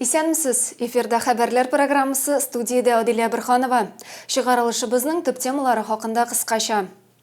Исәнмесез! Эфирда хәбәрләр программасы студиядә Адилә Бирханова. Чыгарылышыбызның төп темалары хакында кыскача.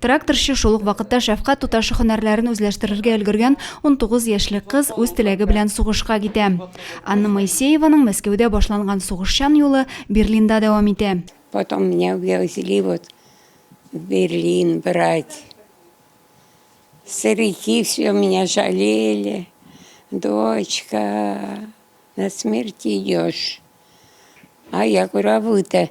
Тракторчы, шул ук вакытта шәфкать туташы һөнәрләрен үзләштерергә өлгергән 19 яшьлек кыз үз теләге белән сугышка китә. Анна Моисееваның Мәскәүдә башланган сугышчан юлы Берлинда дәвам итә. Потом меня увезли вот в Берлин брать. Старики все меня жалели. Дочка, на смерть идешь. А я говорю, а вы-то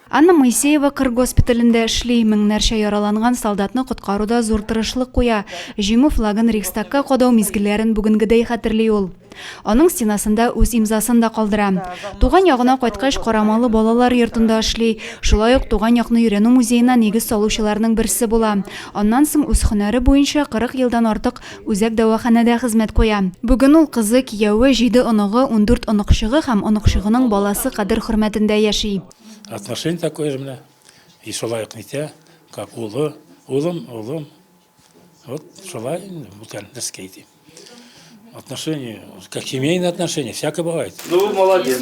Анна Моисеева кыр госпиталендә эшли, меңнәрчә яраланган солдатны коткаруда зур тырышлык куя. Җиңү флагын Рейхстагка кадау мизгелләрен бүгенгедәй хәтерли ул. Аның стенасында үз имзасын да калдыра. Туган ягына кайткач, карамалы балалар йортында эшли, шулай ук Туган якны өйрәнү музеена нигез салучыларның берсе була. Аннан соң үз һөнәре буенча 40 елдан артык Үзәк дәваханәдә хезмәт куя. Бүген ул кызы, кияве, җиде оныгы, ундүрт оныкчыгы һәм оныкчыгының баласы кадер-хөрмәтендә яши. Отношение такое же менә, ише лаек нитә, как улы, улым, улым. Вот шулай инде, бүтән нәрскә әйтим. Отношение, как семейные отношения, всякое бывает. Ну, молодец.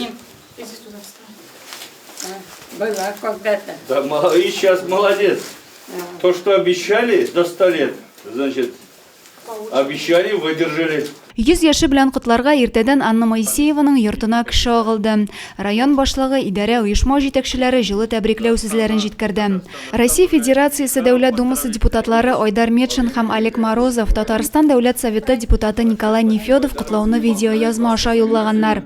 Иди туда встань. Была когда-то. Да, и сейчас молодец. Да. То, что обещали до 100 лет, значит, обещали, выдержали. Йөз яше белән котларга иртәдән Анна Моисееваның йортына кеше агылды. Район башлыгы, идарә, оешма җитәкчеләре җылы тәбрикләү сүзләрен җиткерде. Россия Федерациясе Дәүләт Думасы депутатлары Айдар Метшин һәм Олег Морозов, Татарстан Дәүләт Советы депутаты Николай Нефедов котлауны видеоязма аша юллаганнар.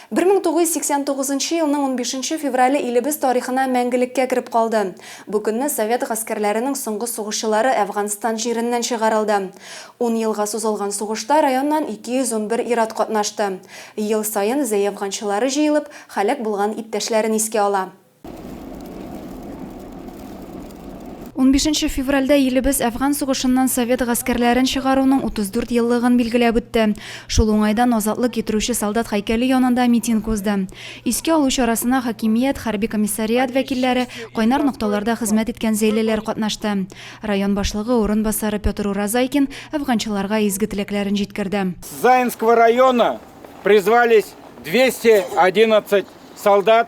Бер мең тугыз йөз сиксән тугызынчы елның унбишенче феврале илебез тарихына мәңгелеккә кереп калды. Бу көнне совет гаскәрләренең соңгы сугышчылары Әфганстан җиреннән чыгарылды. Ун елга сузылган сугышта районнан 211 ир-ат катнашты. Ел саен зәй әфганчылары җыелып, һәлак булган иптәшләрен искә ала. Унбишенче февральдә илебез Әфган сугышыннан совет гаскәрләрен чыгаруның 34 еллыгын билгеләп үтте. Шул уңайдан азатлык китерүче солдат һәйкәле янында митинг узды. Искә алу чарасына хакимият, хәрби комиссариат вәкилләре, кайнар нокталарда хезмәт иткән зәйлеләр катнашты. Район башлыгы урынбасары Петр Уразайкин әфганчыларга изге теләкләрен җиткерде. С Заинского района призвались 211 солдат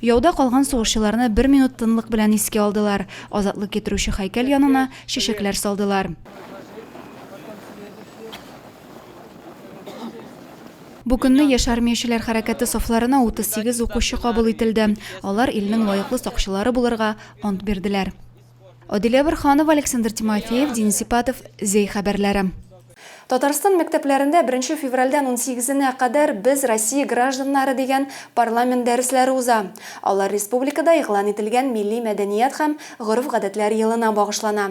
Яуда калган сугышчыларны бер минут тынлык белән искә алдылар, азатлык китерүче һәйкәл янына чәчәкләр салдылар. Бу көнне яшь армиячеләр хәрәкәте сафларына 38 укучы кабул ителде. Алар илнең лаеклы сакчылары булырга ант бирделәр. Адилә Борханова, Александр Тимофеев, Денис Ипатов, Зәй хәбәрләре. Татарстан мәктәпләрендә беренче февральдән унсигезенә кадәр Без, Россия гражданнары дигән парламент дәресләре уза. Алар республикада игълан ителгән Милли мәдәният һәм гореф-гадәтләр елына багышлана.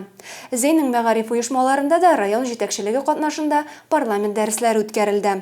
Зейнең мәгариф оешмаларында да район җитәкчелеге катнашында парламент дәресләре үткәрелде.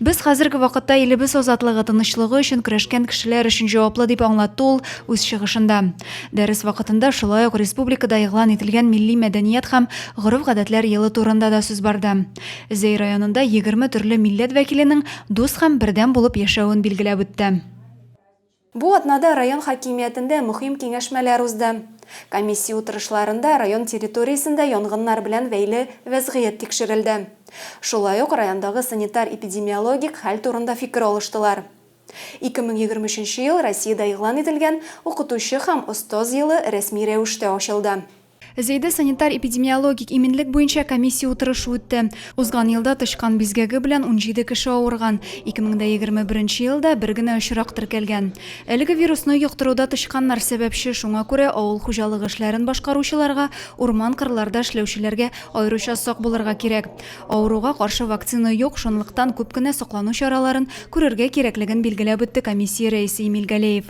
Без хәзерге вакытта илебез азатлыгы, тынычлыгы өчен көрәшкән кешеләр өчен җаваплы, дип аңлатты ул үз чыгышында. Дәрес вакытында шулай ук республикада игълан ителгән милли мәдәният һәм гореф-гадәтләр елы турында да сүз барды. Зәй районында егерме төрле милләт вәкиленең дус һәм бердәм булып яшәвен билгеләп үтте. Бу атнада район хакимиятендә мөһим киңәшмәләр узды. Комиссия утырышларында район территориясендә янгыннар белән бәйле вәзгыять тикшерелде. Шулай ук райондагы санитар-эпидемиологик хәл турында фикер алыштылар. 2023 нче ел Россиядә игълан ителгән Укытучы һәм остаз елы рәсми рәвештә ачылды. Зәйдә санитар-эпидемиологик иминлек буенча комиссия утырышы үтте. Узган елда тычкан бизгәге белән 17 кеше авырган, 2021 елда бер генә очрак теркәлгән. Әлеге вирусны йоктыруда тычканнар сәбәпче, шуңа күрә авыл хуҗалыгы эшләрен башкаручыларга, урман-кырларда эшләүчеләргә аеруча сак булырга кирәк. Авыруга каршы вакцина юк, шунлыктан күп кенә саклану чараларын күрергә кирәклеген билгеләп үтте комиссия рәисе Эмиль Галеев.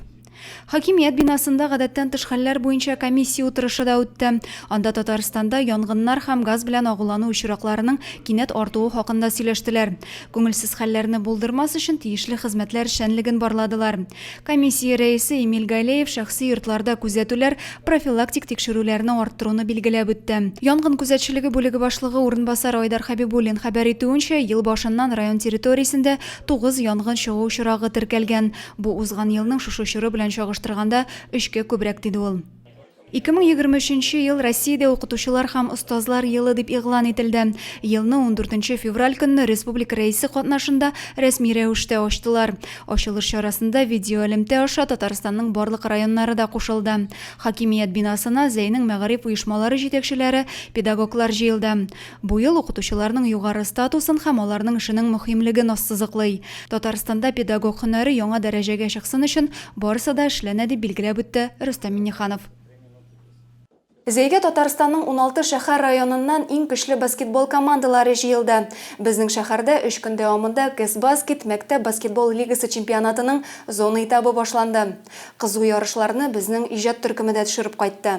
Хакимият бинасында гадәттән тыш хәлләр буенча комиссия утырышы да үтте. Анда Татарстанда янгыннар һәм газ белән агулану очракларының кинәт артуы хакында сөйләштеләр. Күңелсез хәлләрне булдырмас өчен тиешле хезмәтләр эшчәнлеген барладылар. Комиссия рәисе Эмиль Галеев шәхси йортларда күзәтүләр, профилактик тикшерүләрне арттыруны билгеләп үтте. Янгын күзәтчелеге бүлеге башлыгы урынбасары Айдар Хәбибуллин хәбәр итүенчә, ел башыннан район территориясендә тугыз янгын чыгу очрагы теркәлгән. Бу узган елның шушы чоры белән чагыштырганда өчкә күбрәк, диде ул. 2023 нче ел Россиядә Укытучылар һәм остазлар елы дип игълан ителде. Елны ундүртенче февраль көнне республика Рәисе катнашында рәсми рәвештә ачтылар. Ачылыш чарасында видеоэлемтә аша Татарстанның барлык районнары да кушылды. Хакимият бинасына Зәйнең мәгариф оешмалары җитәкчеләре, педагоглар җыелды. Бу ел укытучыларның югары статусын һәм аларның эшенең мөһимлеген ассызыклый. Татарстанда педагог һөнәре яңа дәрәҗәгә чыксын өчен барысы да эшләнә, дип билгеләп үтте Рөстәм Миңнеханов. Зәйгә Татарстанның уналты шәһәр-районыннан иң көчле баскетбол командалары җыелды. Безнең шәһәрдә өч көн дәвамында Кэсбаскет мәктәп баскетбол лигасы чемпионатының зона этабы башланды. Кызу ярышларны безнең иҗат төркеме дә төшереп кайтты.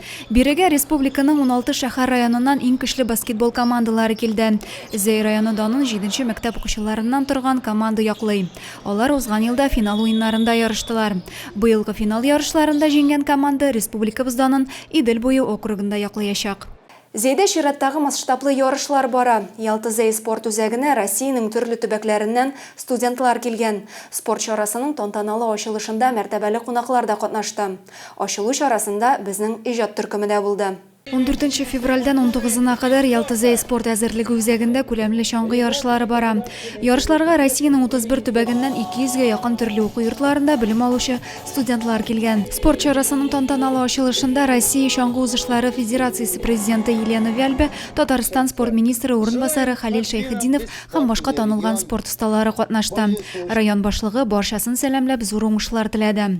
Бирегә республиканың уналты шәһәр-районыннан иң көчле баскетбол командалары килде. Зәй районы данын җиденче мәктәп укучыларыннан торган команда яклый. Алар узган елда финал уеннарында ярыштылар. Быелгы финал ярышларында җиңгән команда республикабыз данын Идел буе округында яклыячак. Зәйдә чираттагы масштаблы ярышлар бара. Ялта-Зәй спорт үзәгенә Россиянең төрле төбәкләреннән студентлар килгән. Спорт чарасының тантаналы ачылышында мәртәбәле кунаклар да катнашты. Ачылу чарасында безнең иҗат төркеме дә булды. Ундүртенче февральдән унтугызына кадәр Ялтызәй спорт әзерлеге үзәгендә күләмле чаңгы ярышлары бара. Ярышларга Россиянең 31 төбәгеннән 200 гә якын төрле уку йортларында белем алучы студентлар килгән. Спорт чарасының тантаналы ачылышында Россия чаңгы узышлары федерациясе президенты Елена Вяльбе, Татарстан спорт министры урынбасары Хәлил Шәйхетдинов һәм башка танылган спорт осталары катнашты. Район башлыгы барчасын сәламләп, зур уңышлар теләде.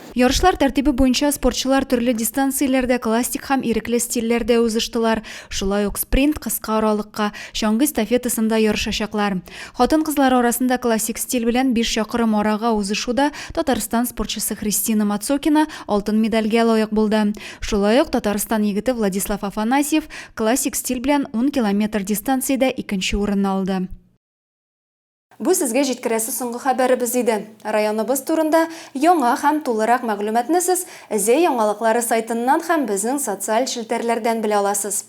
Ярышлар тәртибе буенча спортчылар төрле дистанцияләрдә классик һәм ирекле стильләрдә узыштылар, шулай ук спринт, кыска аралыкка, чаңгы эстафетасында ярышачаклар. Хатын-кызлар арасында классик стиль белән биш чакрым арага узышуда Татарстан спортчысы Христина Мацокина алтын медальгә лаек булды. Шулай ук Татарстан егете Владислав Афанасьев классик стиль белән ун километр дистанциядә икенче урынны алды. Бу сезгә җиткерәсе соңгы хәбәребез иде. Районыбыз турында яңа һәм тулырак мәгълүматны сез Зәй яңалыклары сайтыннан һәм безнең социаль челтәрләрдән белә аласыз.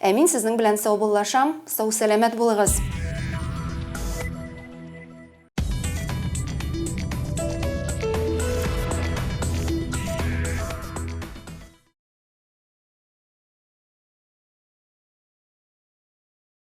Ә мин сезнең белән саубуллашам, сау-сәламәт булыгыз!